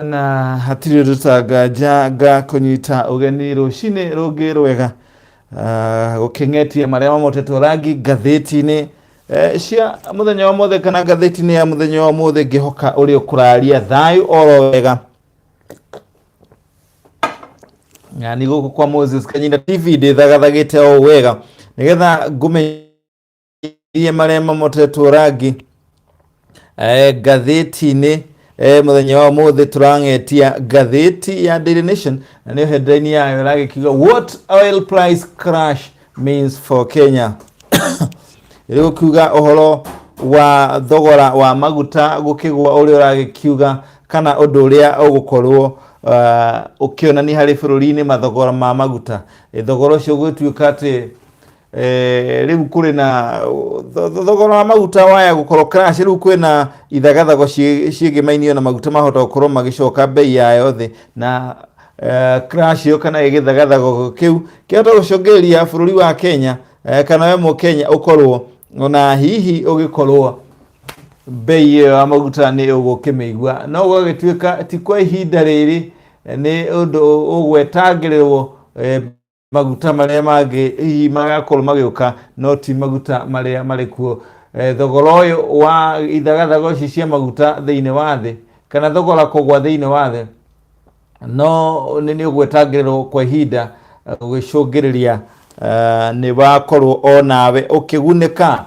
na hatirĩ rũtanganja ga kũnyita ũgeni rũcinĩ rũngĩ rwega Ah, gũkĩng'etie marĩa mamotetwo rangi ngathĩti-inĩ eh, cia mũthenya wa mothe kana ngathĩti-inĩ ya mũthenya wa mothe ngĩhoka ũrĩ ũkũraria thayũ oro wega na nĩ gũkũ kwa moses kanyina tv ndĩthagathagĩte o wega nĩgetha ngũmenye iria marĩa mamotetwo rangi eh, ngathĩti-inĩ eh, mũthenya wa ũmũthĩ tũrang'etia ngathĩti ya Daily Nation na nĩyo headline yayo ĩragĩkiuga what oil price crash means for Kenya ĩrĩgũkiuga ũhoro wa thogora wa maguta gũkĩgwa ũrĩa ũragĩkiuga kana ũndũ ũrĩa ũgũkorwo uh, ũkĩonania harĩ bũrũri-inĩ mathogora ma maguta Eh, thogora ũcio gũgĩtuĩka atĩ Eh, rä u kå rä na tho- tho- thogora wa maguta waya gå korwo crash rä u kwä na ithagathago ciä- ciĩgiĩ mainio na maguta mahota gå korwo magä coka mbei yayo thä na eh, crash ä yo kana gä thagathago kä u kä hota gå congä rä ria bå rå ri wa kenya eh, kana we må kenya å korwo ona hihi å gä korwo mbei ĩyo ya maguta nĩ ũgũkĩmĩigua no gũgagĩtuĩka ti kwa ihinda rĩrĩ nĩ ũndũ ũgwetangĩrĩrwo eh, maguta marĩa mangĩ hihi magakorwo magĩũka no ti maguta marĩa marĩ kuo Eh, thogora ũyũ wa ithagathago ici cia maguta thĩinĩ wa thĩ kana thogora kũgwa thĩinĩ wa thĩ no nĩ nĩ ũgwetangĩrĩrwo kwa ihinda eh, gũgĩcũngĩrĩria eh, nĩ wakorwo o nawe ũkĩgunĩka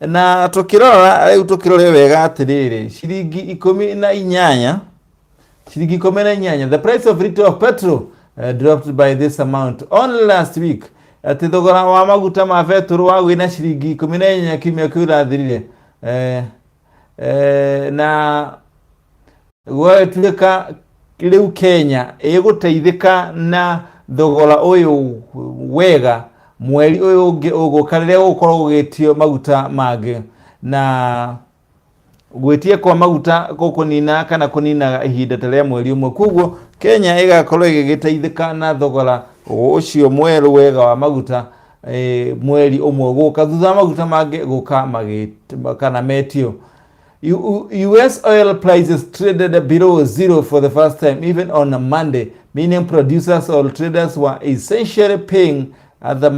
na tũkĩrora rĩu tũkĩrore wega atĩrĩrĩ ciringi ikũmi na inyanya Shilingi kumi na inyanya. The price of liter of petrol uh, dropped by this amount only last week. Ati thogora wa maguta ma betũrũ wagwĩ na shilingi ikũmi na inyanya kiumia kĩu rathirire eh, eh, na gwagĩtuĩka rĩu Kenya ĩgũteithĩka na thogora ũyũ wega mweri ũyũ ũngĩ ũgũka rĩrĩa gũkorwo gũgĩtio maguta mangĩ na gwĩtia kwa maguta gũkũnina kana kũninaga ihinda ta rĩa mweri ũmwe kwoguo kenya ĩgakorwo ĩgĩgĩteithĩka na thogora ũcio mwerũ wega wa maguta eh, mweri ũmwe gũka thutha wa maguta mangĩ gũka magĩt- kana metio U- U- US oil prices traded below zero for the first time, even on a Monday, meaning producers or traders were essentially paying at the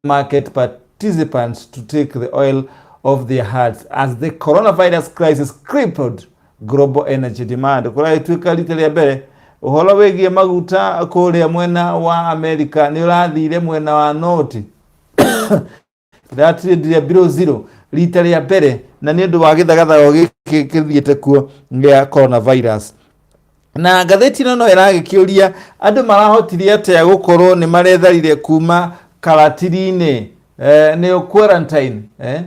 market participants to take the oil off their hearts as the coronavirus crisis crippled global energy demand kũrĩa ĩtuĩka rita rĩa mbere ũhoro wĩgiĩ maguta kũrĩa mwena wa america nĩ ũrathire mwena wa noti ratindire below zero rita rĩa mbere na nĩ ũndũ wa gĩthagathago gĩkĩ gĩthiĩte kuo gĩa coronavirus na ngathĩti ĩno no ĩragĩkĩũria andũ marahotire atĩa gũkorwo nĩ maretharire kuma karatiri-inĩ eh, nĩyo quarantine eh?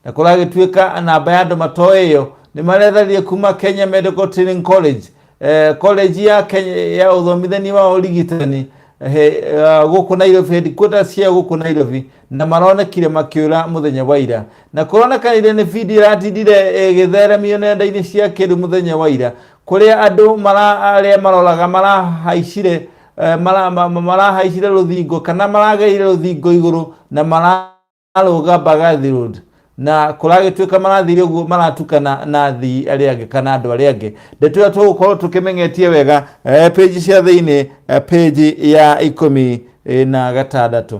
na kũragĩtuĩka namba ya andũ matoe ĩyo nĩ maretharire kuma kenya medical training college eh, college ya kenya ya ũthomithania wa ũrigitani eh, eh, gũkũ nairobi headquarters cia gũkũ nairobi na maronekire makĩũra mũthenya wa ira na kũronekanire nĩ video ĩratindire ĩgĩtheremio nenda-inĩ cia kĩrĩu mũthenya wa ira kũrĩa andũ arĩa maroraga marahaicire eh, marahaicire rũthingo kana marageire rũthingo igũrũ na mararũga Mbagathi Road na kũragĩtuĩka marathire ũguo maratukana na athii arĩa angĩ kana andũ arĩa angĩ ndeto ĩyo tũgũkorwo tũkĩmenyetie wega eh, page cia thĩinĩ eh, page ya ikũmi na gatandatũ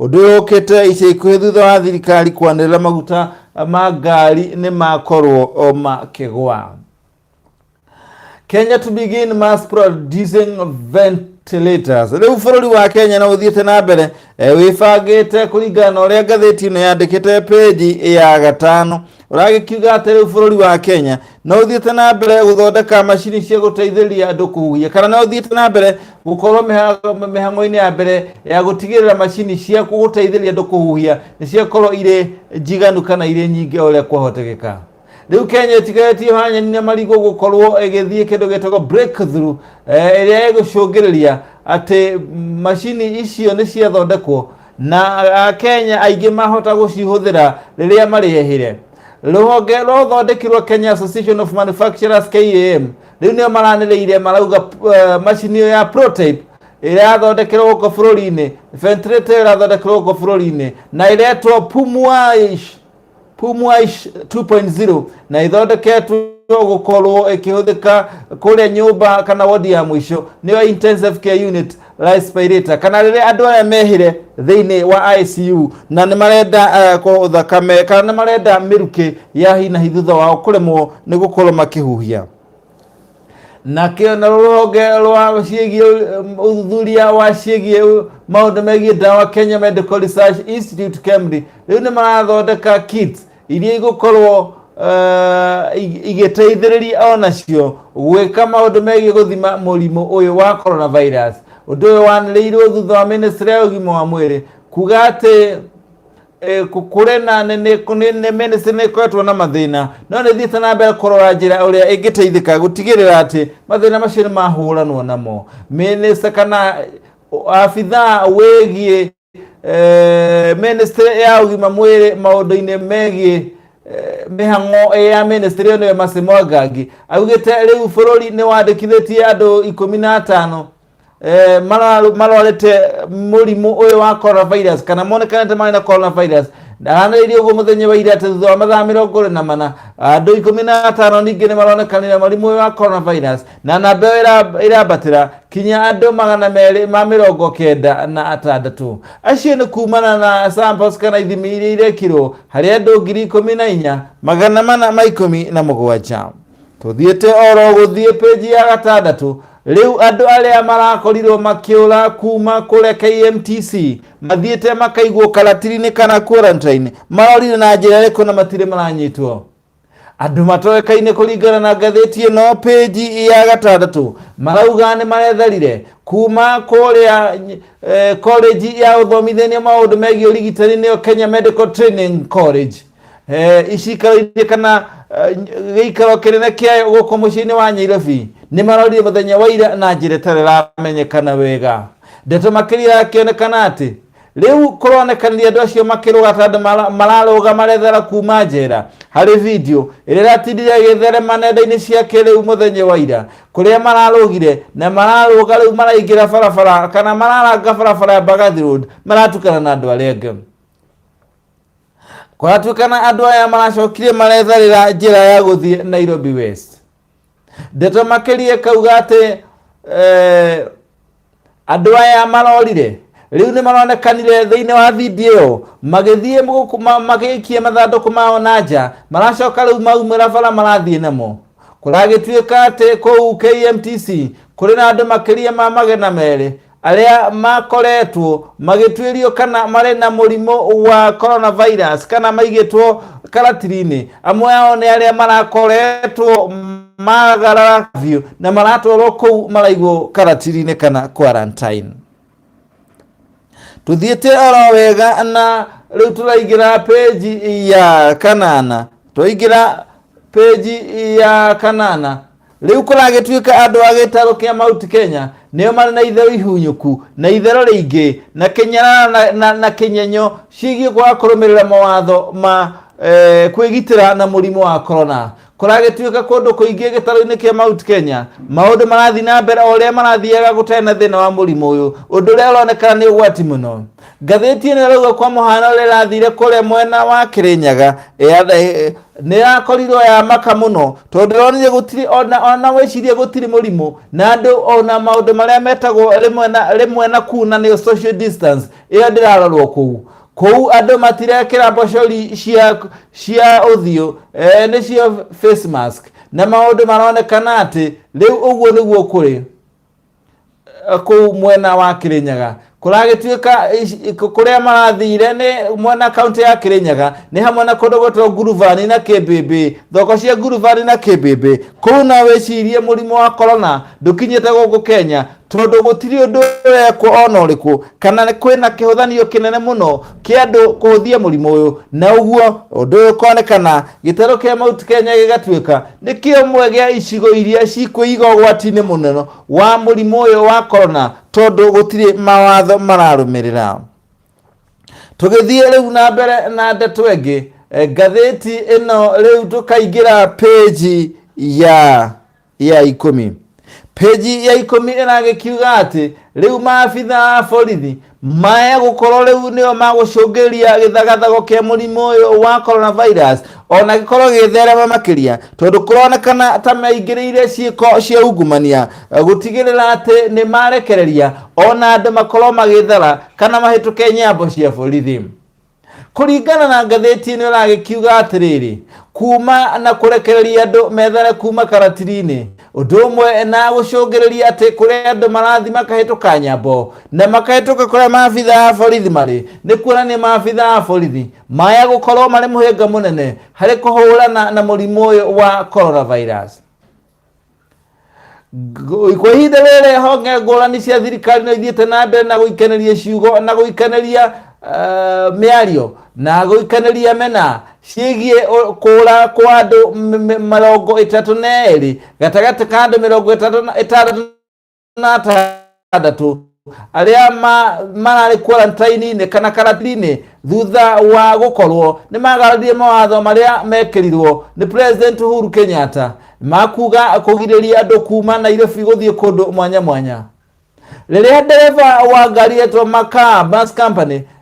Ũndũ ũyũ ũkĩte ica ikuhĩ thutha wa thirikari kwanĩrĩra maguta ma ngari nĩ makorwo makĩgwa. Kenya to begin mass producing ventilators. Rĩu bũrũri wa Kenya na ũthiĩte na mbere e, wĩbangĩte kũringana na ũrĩa ngathĩti ĩno yandĩkĩte peji ya gatano ũragĩkiuga atĩ rĩu bũrũri wa Kenya na ũthiĩte na mbere gũthondeka macini cia gũteithĩrĩria andũ kũhuhia kana na ũthiĩte na mbere gũkorwo mĩha- mĩhang'o-inĩ ya mbere ya gũtigĩrĩra macini cia gũteithĩrĩria andũ kũhuhia nĩ ciakorwo irĩ njiganu kana irĩ nyingĩ o ũrĩa kwahotekeka rĩu kenya ĩtigarĩtie hanyani na marigũ gũkorwo ĩgĩthiĩ kĩndũ gĩtagwo breakthrough eh, ĩrĩa ĩgũcũngĩrĩria atĩ macini icio nĩ ciathondekwo na akenya aingĩ mahota gũcihũthĩra rĩrĩa marĩehire rũhonge rwa ũthondekirwo kenya association of manufacturers kam rĩu nĩo maranĩrĩire marauga uh, macini ĩyo ya prototype ĩrathondekerwo gũkũ bũrũri-inĩ ventilator ĩrathondekerwo gũkũ bũrũri-inĩ na ĩretwo pumuaish Pumwash 2.0 na ithondeketwo gũkorwo ĩkĩhũthĩka kũrĩa nyũmba kana wodi ya mũico nĩyo intensive care unit respirator kana rĩrĩa andũ aya mehire thĩinĩ wa ICU na nĩ marenda uh, kũ- thakame kana nĩ marenda mĩrukĩ ya hi na hi thutha wao kũremwo nĩ gũkorwo makĩhuhia nakĩo na rũhonge rwa ciĩgiĩ ũthuthuria wa ciĩgiĩ maũndũ megiĩ ndawa Kenya Medical Research Institute KEMRI rĩu nĩ marathondeka kits iria igũkorwo eh, ig- igĩteithĩrĩria o nacio gwĩka maũndũ megiĩ gũthima mũrimũ ũyũ wa coronavirus ũndũ ũyũ wanĩrĩirwo thutha wa ministry ya ũgima wa mwĩrĩ kuga atĩ eh, ku- kũrĩ na nĩ- nĩ- nĩ- nĩ ministry nĩ ĩkoretwo na mathĩna no nĩ thiĩte na mbere kũrora njĩra ũrĩa ĩngĩteithĩka gũtigĩrĩra atĩ mathĩna macio nĩ mahũranwo namo ministry kana uh, abithaa wĩgiĩ eh, ministry ya ũgima mwĩrĩ maũndũ-inĩ megiĩ eh, mĩhang'o ya ministry ĩyo nĩwe Mercy Mwangangi augĩte rĩu bũrũri nĩ wandĩkithĩtie andũ ikũmi na atano eh, mara- marwarĩte mũrimũ ũyũ wa coronavirus kana monekanĩte marĩ na coronavirus ndaranĩrĩirie ũguo mũthenya wa ira atĩ thutha wa mathaa mĩrongo ĩrĩ na mana andũ ikũmi na atano ningĩ nĩ maronekanire mũrimũ ũyũ wa coronavirus na namba ĩyo ĩra- ĩrambatĩra kinya andũ magana merĩ ma mĩrongo kenda na atandatũ acio nĩ kumana na samples kana ithimi iria irekirwo harĩ andũ ngiri ikũmi na inya magana mana ma ikũmi na mũgwanja tũthiĩte oro gũthiĩ page ya gatandatũ rĩu andũ arĩa marakorirwo makĩũra kuma kũrĩa KMTC mathiĩte makaigwo karatirinĩ kana quarantine marorire na njĩra ĩrĩkũ na matirĩ maranyitwo andũ matoĩkaine kũringana na ngathĩti ĩno page ya gatandatũ marauga nĩ maretharire kuma kũrĩa eh, college ya ũthomithania maũndũ megiĩ ũrigitani nĩyo Kenya Medical Training College Eh, icikaro-inĩ kana eh, gĩikaro kĩnene kĩayo gũkũ mũciĩ-inĩ wa nyairobi nĩ marorire mũthenya wa ira na njĩra ĩtarĩ ĩramenyekana wega ndeto makĩria yakĩonekana atĩ rĩu kũronekanire andũ acio makĩrũga ta andũ mara- mararũga marethera kuma njera harĩ video ĩrĩa ĩratindire ĩgĩtherema nenda-inĩ cia kĩrĩu mũthenya wa ira kũrĩa mararũgire na mararũga rĩu maraingĩra barabara kana mararanga barabara ya Mbagathi Road maratukana na andũ arĩa angĩ Kũratuĩkana andũ aya maracokire maretharĩra njĩra ya gũthiĩ Nairobi West. Ndeto makĩria kauga atĩ eh, andũ aya marorire rĩu nĩ maronekanire thĩinĩ wa video magĩthiĩ gũkũ- ma- magĩikia mathandũkũ mao na nja maracoka rĩu maumĩra bara marathiĩ namo kũragĩtuĩka atĩ kũu KMTC kũrĩ na andũ makĩria ma magana merĩ arĩa makoretwo magĩtuĩrio kana marĩ na mũrimũ wa coronavirus kana maigĩtwo karatirinĩ amwe ao nĩ arĩa marakoretwo magarara biũ na maratwarwo kũu maraigwo karatirinĩ kana quarantine tuthiĩte oro wega na rĩu tũraingĩra peji ya kanana twaingĩra peji ya kanana Rĩu kũragĩtuĩka andũ a gĩtarũ kĩa Mount Kenya nĩo marĩ na itherũ ihunyũku na itherũ rĩingĩ na kĩnyarara na, na, na kĩnyenyo ciĩgiĩ kwaga kũrũmĩrĩra mawatho ma eh, kwĩgitĩra na mũrimũ wa korona kũragĩtuĩka kũndũ kũingĩ gĩtarũ-inĩ kĩa Mount Kenya maũndũ marathiĩ na mbere o ũrĩa marathiaga gũtarĩ na thĩna wa mũrimũ ũyũ ũndũ ũrĩa ũronekana nĩ ũgwati mũno Ngathĩti ĩno ĩrauga kwa mũhano ũrĩa ĩrathire kũrĩa mwena wa Kĩrĩnyaga nĩ yakorirwo ya maka mũno tondũ ronire gũtirĩ ona wĩcirie gũtirĩ mũrimũ na andũ ona maũndũ marĩa metagwo rĩmwe na kuu na nĩyo social distance ĩyo ndĩrarorwo kũu kũu andũ matirekĩra mbocori cia cia ũthiũ e, nĩcio face mask na maũndũ maronekana atĩ rĩu ũguo nĩguo kũrĩ eh, kũu mwena wa Kirinyaga kũragĩtuĩka kũrĩa marathire nĩ mwena kaunti ya Kirinyaga nĩ hamwe na kũndũ gwĩtwo Nguruvani na Kĩmbĩmbĩ thoko cia Nguruvani na Kĩmbĩmbĩ kũu na wĩcirie mũrimũ wa korona ndũkinyĩte gũkũ Kenya tondũ gũtirĩ ũndũ wekwo ona ũrĩkũ kana kwĩna kĩhũthanio kĩnene mũno kĩa andũ kũhũthia mũrimũ ũyũ na ũguo ũndũ ũyũ ũkonekana gĩtarũ kĩa Mount Kenya gĩgatuĩka nĩ kĩmwe gĩa icigo iria cikwĩiga ũgwati-inĩ mũnene wa mũrimũ ũyũ wa korona tondũ gũtirĩ mawatho mararũmĩrĩra tũgĩthiĩ rĩu na mbere na ndeto ĩngĩ eh, ngathĩti ĩno rĩu tũkaingĩra page ya ya ikũmi peji ya ikũmi ĩragĩkiuga atĩ rĩu maabitha a borithi megũkorwo rĩu nĩo magũcũngĩria gĩthagathago kĩa mũrimũ ũyũ wa coronavirus ona gĩkorwo gĩgĩtherema makĩria tondũ kũronekana ta maingĩrĩire ciĩko cia ungumania eh, gũtigĩrĩra atĩ nĩ marekereria ona andũ makorwo magĩthara kana mahĩtũke nyambo cia borithi kũringana na ngathĩti ĩno ĩragĩkiuga atĩrĩrĩ kuma na kũrekereria andũ methare kuma karatiri-inĩ ũndũ ũmwe na gũcũngĩrĩria atĩ kũrĩa andũ marathi makahĩtũka nyambo na makahĩtũka kũrĩa maabitha a borithi marĩ nĩ kuonania maabitha a borithi maya gũkorwo marĩ mũhĩnga mũnene harĩ kũhũrana na mũrimũ ũyũ wa coronavirus Ngo- kwa ihinda rĩrĩ honge ngũrani cia thirikari no ithiĩte na mbere na gũikaneria ciugo na gũikaneria eh, mĩario na gũikaneria mena ciĩgiĩ ũ- kũra kwa andũ m- m- mĩrongo ĩtatũ na erĩ gatagatĩ ka andũ mĩrongo ĩtatũ na- ĩtandatũ na atandatå arĩa ma- mararĩ quarantine-inĩ kana karantini thutha wa gũkorwo nĩ magararire mawatho marĩa mekĩrirwo nĩ president Uhuru Kenyatta makuga kũgirĩria andũ kuma Nairobi gũthiĩ kũndũ mwanya mwanya rĩrĩa ndereba wa ngari yetwo Makaa Bus Company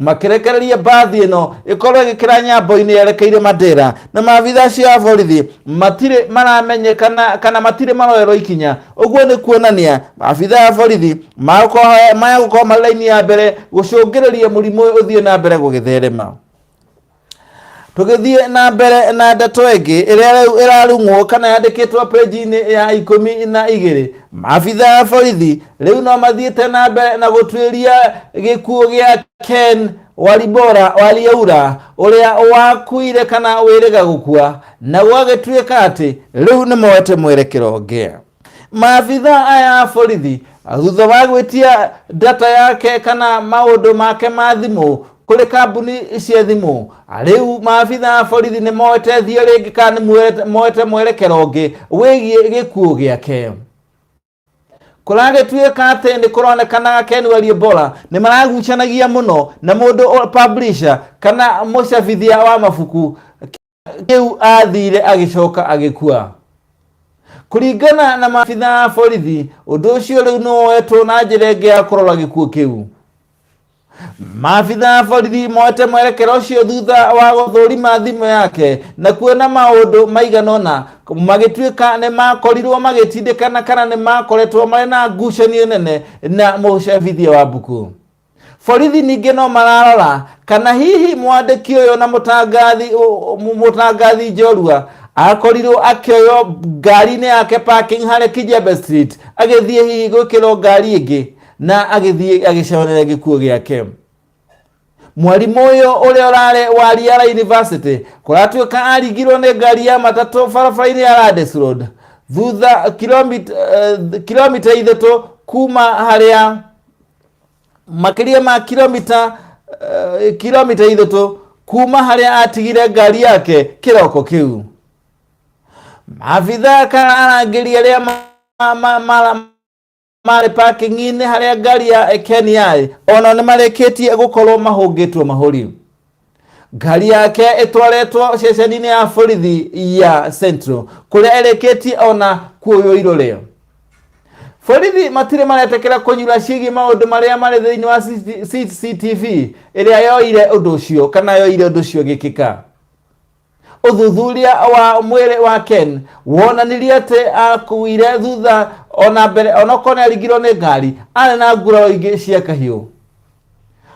makĩrekereria mbathi ĩno ĩkorwo ĩgĩkĩra nyambo-inĩ yerekeire Mandera na maabitha acio a borithi matirĩ maramenyeka na- kana matirĩ maroerwo ikinya ũguo nĩ kuonania maabitha a borithi magũkorwo- maya gũkorwo marĩ raini ya mbere gũcũngĩrĩria mũrimũ ũyũ ũthiĩ na mbere gũgĩtherema tũgĩthiĩ na mbere na ndeto ĩngĩ ĩrĩa rĩu ĩrarung'wo kana yandĩkĩtwo peji-inĩ ya ikũmi na igĩrĩ maabitha a borithi rĩu no mathiĩte na mbere na gũtuĩria gĩkuũ gĩa ken waribora wariaura ũrĩa wakuire kana wĩrĩga gũkua na gwagĩtuĩka atĩ rĩu nĩ moete mwerekero ũngĩ maabitha aya a borithi thutha wa gwĩtia data yake kana maũndũ make ma thimũ kũrĩ kambuni cia thimũ rĩu maabitha a borithi nĩ moete thiĩ rĩngĩ kana nĩ moete mwerekero ũngĩ wĩgiĩ gĩkuũ gĩake kũragĩtuĩka atĩ nĩ kũronekana Ken Walibora nĩ maragucanagia mũno na mũndũ publisher kana mũcabithia wa mabuku kĩu athire agĩcoka agĩkua kũringana na maabitha a borithi ũndũ ũcio rĩu nĩ woetwo na njĩra ĩngĩ ya kũrora gĩkuũ kĩu maabitha a borithi moete mwerekera ũcio thutha wa gũthũrima thimũ yake na kuona maũndũ maigana ũna magĩtuĩka nĩ makorirwo magĩtindĩkana kana nĩ makoretwo marĩ na ngucanio nene na mũcabithia wa mbuku Borithi ningĩ no mararora kana hihi mwandĩki ũyũ na mũtangathi ũ- mũ- mũtangathi Njorua akorirwo akĩoywo ngari-inĩ yake parking harĩa Kijembe Street agĩthiĩ hihi gwĩkĩrwo ngari ĩngĩ na agĩthiĩ agĩconerera gĩkuũ gĩake mwarimũ ũyũ ũrĩa ũrarĩ wa Riara University kũratuĩka aringirwo nĩ ngari ya matatũ barabara-inĩ ya Randis Road thutha kilomita, eh, kilomita ithatũ kuma harĩa makĩria ma kilomita uh, kilomita ithatũ kuma harĩa atigire ngari yake kĩroko kĩu maabitha kana arangĩri arĩa ma- ma- ma- marĩ parking-inĩ harĩa ngari ya Ken yarĩ ona nĩ marĩkĩtie gũkorwo mahũngĩtwo mahũri ngari yake ĩtwaretwo ceceni-inĩ ya borithi ya central kũrĩa ĩrĩkĩtie ona kuoywo iroreo borithi matirĩ maretekera kũnyura ciĩgiĩ maũndũ marĩa marĩ thĩinĩ wa CCTV ĩrĩa yoire ũndũ ũcio kana yoire ũndũ ũcio gĩkĩka Ũthuthuria wa mwĩrĩ wa Ken wonanirie atĩ aakuire thutha ona mbere onokorwo nĩ aringirwo nĩ ngari arĩ na nguraro ingĩ cia kahiũ.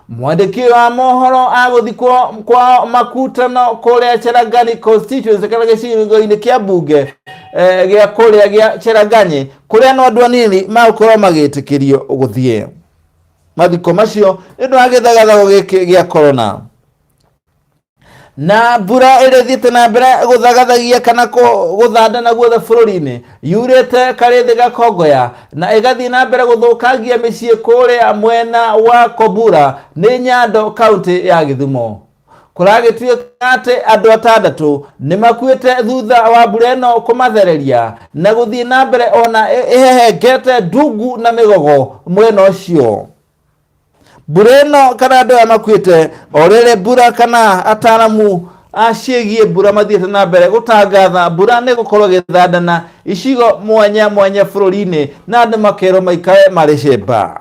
Mwandĩki ũyũ wa mohoro agũthikwo kwao Makutano kũrĩa Cherangani constituency kana gĩcigo-inĩ kĩa mbunge eh, gĩa kũrĩa gĩa Cherangani kũrĩa no andũ anini magũkorwo magĩtĩkĩrio gũthiĩ mathiko macio nĩ ũndũ wa gĩthagathago gĩkĩ gĩa korona. na mbura ĩrĩa ĩthiĩte na mbere gũthagathagia kana kũ- gũthandana guothe bũrũri-inĩ yurĩte karĩ thĩ gakongoya na ĩgathiĩ na mbere gũthũkangia mĩciĩ kũrĩa mwena wa kobura nĩ nyando kaũntĩ ya gĩthumo kũragĩtuĩka atĩ andũ atandatũ nĩ makuĩte thutha wa mbura ĩno kũmathereria na gũthiĩ na mbere ona ĩ- ĩhehengete ndungu na mĩgogo mwena ũcio mbura ĩno kana andũ aya makuĩte o rĩrĩ mbura kana ataramu aciĩgiĩ mbura mathiĩte na mbere gũtangatha mbura nĩ gũkorwo gĩthandana icigo mwanya mwanya bũrũri-inĩ na andũ makerwo maikare marĩ cemba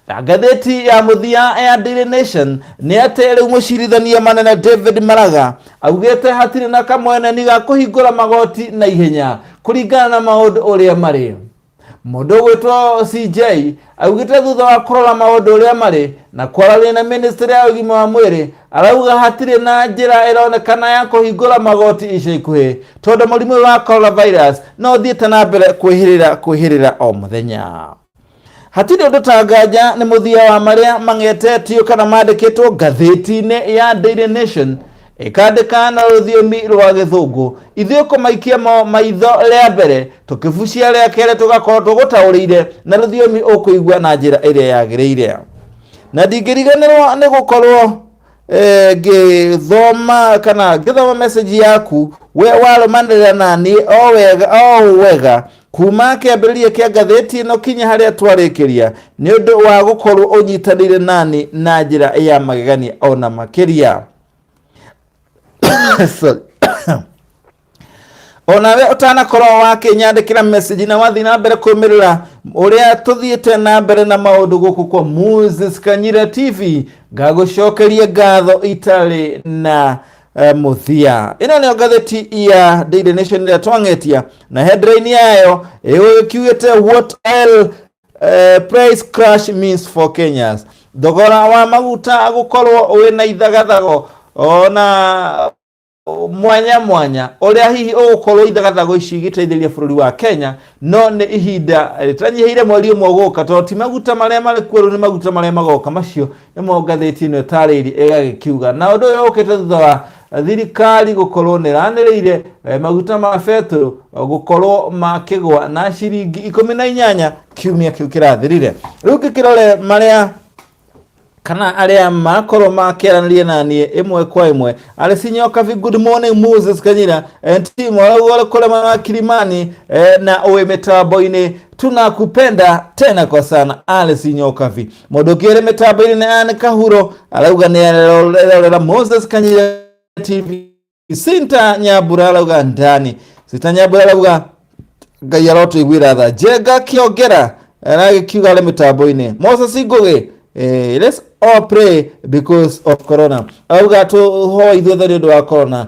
na ngathĩti ya mũthia ya Daily Nation nĩ atĩ rĩu mũcirithania manene David Maraga augĩte hatirĩ na kamweneni ga kũhingũra magoti na ihenya kũringana na maũndũ ũrĩa marĩ mũndũ ũgwĩtwo cj augĩte thutha wa kũrora maũndũ ũrĩa marĩ na kwaranĩria na ministry ya ũgima wa mwĩrĩ arauga hatirĩ na njĩra ĩronekana ya kũhingũra magoti ica ikuhĩ tondũ mũrimũ ũyũ wa coronavirus no ũthiĩte na mbere kwĩhĩrĩra kwĩhĩrĩra o mũthenya hatirĩ ũndũ ta nganja nĩ mũthia wa marĩa mang'etetio kana mandĩkĩtwo ngathĩti-inĩ ya daily nation ĩkandĩka na rũthiomi rwa gĩthũngũ ithuĩ kũmaikia mo maitho rĩa mbere tũkĩbucia rĩa kerĩ tũgakorwo tũgũtaũrĩire na rũthiomi ũkũigua na njĩra ĩrĩa yagĩrĩire na ndingĩriganĩrwo nĩ gũkorwo eh, ngĩthoma kana ngĩthoma message yaku we warũmanĩrĩra na niĩ o wega o ũũ wega kuma kĩambĩrĩria kĩa ngathĩti ĩno kinya harĩa twarĩkĩria nĩ ũndũ wa gũkorwo ũnyitanĩire nani na njĩra ya magegania ona makĩria Sorry. onawe ũtanakorwo wakĩnyandĩkĩra message na wathiĩ na mbere kũmĩrĩra ũrĩa tũthiĩte na mbere na maũndũ gũkũ kwa Moses Kanyira TV ngagũcokeria ngatho itarĩ na eh, mũthia ĩno nĩyo ngathĩti ya Daily Nation ĩrĩa twang'etia na headline yayo ĩgũgĩkiugĩte what else Eh, price crash means for kenyans thogora wa maguta gukorwo wĩ na ithagathago ona mwanya mwanya ũrĩa hihi ũgũkorwo ithagathago ici igĩteithĩrĩria bũrũri wa kenya no nĩ ihinda rĩtanyihĩire mweri ũmwe gũka tondũ ti maguta marĩa marĩ kuo rĩu nĩ maguta marĩa magoka macio ĩmwe ngathĩti ĩno ĩtarĩiri ĩgagĩkiuga na ũndũ ũyũ ũkĩte thutha wa thirikari gũkorwo nĩ ranĩrĩire eh, maguta ma betũrũ eh, gũkorwo makĩgwa na ciringi ikũmi na inyanya kiumia kĩu kĩrathirire rĩu ngĩkĩrore marĩa kana arĩa makorwo makĩaranĩria na niĩ ĩmwe kwa ĩmwe arĩ sinyoka vi good morning moses kanyira eh, timu arauga kũrĩa mwena wa kilimani eh, na ũĩ mĩtambo-inĩ tunakupenda tena kwa sana alice nyokavi Mũndũ kĩrĩ mĩtambo-inĩ nĩ Anne Kahuro arauga nĩ arerorera Moses Kanyira TV. Sinta Nyambura arauga ndani. Sinta Nyambura arauga Ngai arotũiguĩra tha. Njenga Kĩongera aragĩkiuga arĩ mĩtambo-inĩ. Moses Ngũgĩ eh, let's all pray because of corona. Arauga tũhoe ithuothe nĩ ũndũ wa corona.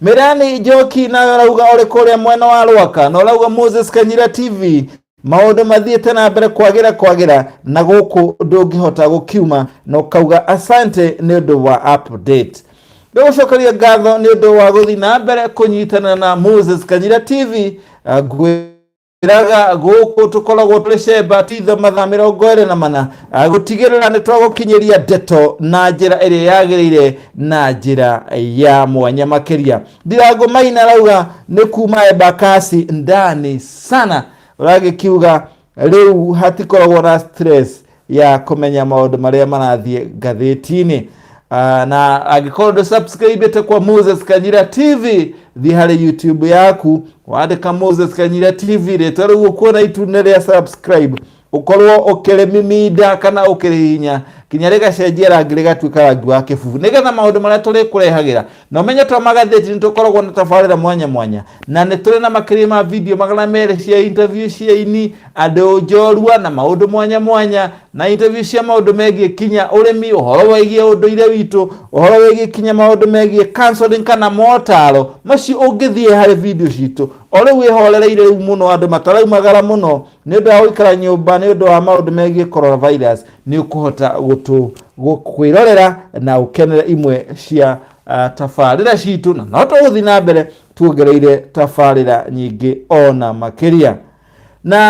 Mirani Njoki nawe ũrauga ũrĩ kũrĩa mwena wa Rwaka na ũrauga Moses Kanyira TV maũndũ mathiĩte na mbere kwagĩra kwagĩra na gũkũ ndũngĩhota gũkiuma na ũkauga asante nĩ ũndũ wa update ndũgũcokeria ngatho nĩ ũndũ wa gũthiĩ na mbere kũnyitana na Moses Kanyira TV uh, ngwĩ iraga gũkũ tũkoragwo twĩ cemba titho mathaa mĩrongo ĩrĩ na mana ah, gũtigĩrĩra nĩ twagũkinyĩria ndeto na njĩra ĩrĩa yagĩrĩire na njĩra ya mwanya makĩria ndirango maina rauga nĩ kuma embakasi ndani sana ũragĩkiuga rĩu hatikoragwo na stress ya kũmenya maũndũ marĩa marathiĩ ngathĩti-inĩ Ah, na angĩkorwo ndũ subscribe te kwa moses kanyira tv thiĩ harĩ youtube yaku wandĩka moses kanyira tv rĩtwa rĩu ũkuona itune rĩa subscribe ũkorwo ũkĩrĩmiminda kana ũkĩrĩhinya kinya rĩgacenjia rangi rĩgatuĩka rangi wa kĩbubu nĩgetha maũndũ marĩa tũrĩkũrehagĩra Na ũmenye twa magathĩti nĩ tũkoragwo na tabarĩra mwanya mwanya na nĩ tũrĩ na makĩria ma video magana merĩ cia interview cia ini, andũ njorua na maũndũ mwanya mwanya na interview cia maũndũ megiĩ kinya ũrĩmi, ũhoro wĩgiĩ ũndũire witũ, ũhoro wĩgiĩ kinya maũndũ megiĩ counseling kana motaro macio ũngĩthiĩ harĩ video citũ. O rĩu wĩhorereire rĩu mũno andũ mataraumagara mũno. nĩ ũndũ wa gũikara nyũmba nĩ ũndũ wa maũndũ megiĩ coronavirus nĩ ũkũhota gũtũ gũ- kwĩrorera na ũkenere imwe cia ah, tabarĩra citũ na no tũgũthiĩ na mbere tuongereire tabarĩra nyingĩ ona makĩria na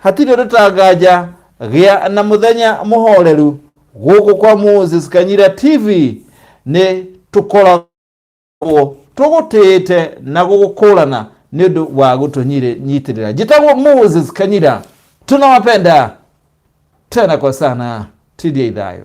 hatirĩ rũtanganja gĩa na mũthenya mũhoreru gũkũ kwa moses kanyira tv nĩ tũkoragwo tũgũkorwo tũgũtĩĩte na gũgũkũrana nĩ ũndũ wa gũtũnyitĩrĩra njĩtagwo moses kanyira tunawapenda tena kwa sana tidia ithayo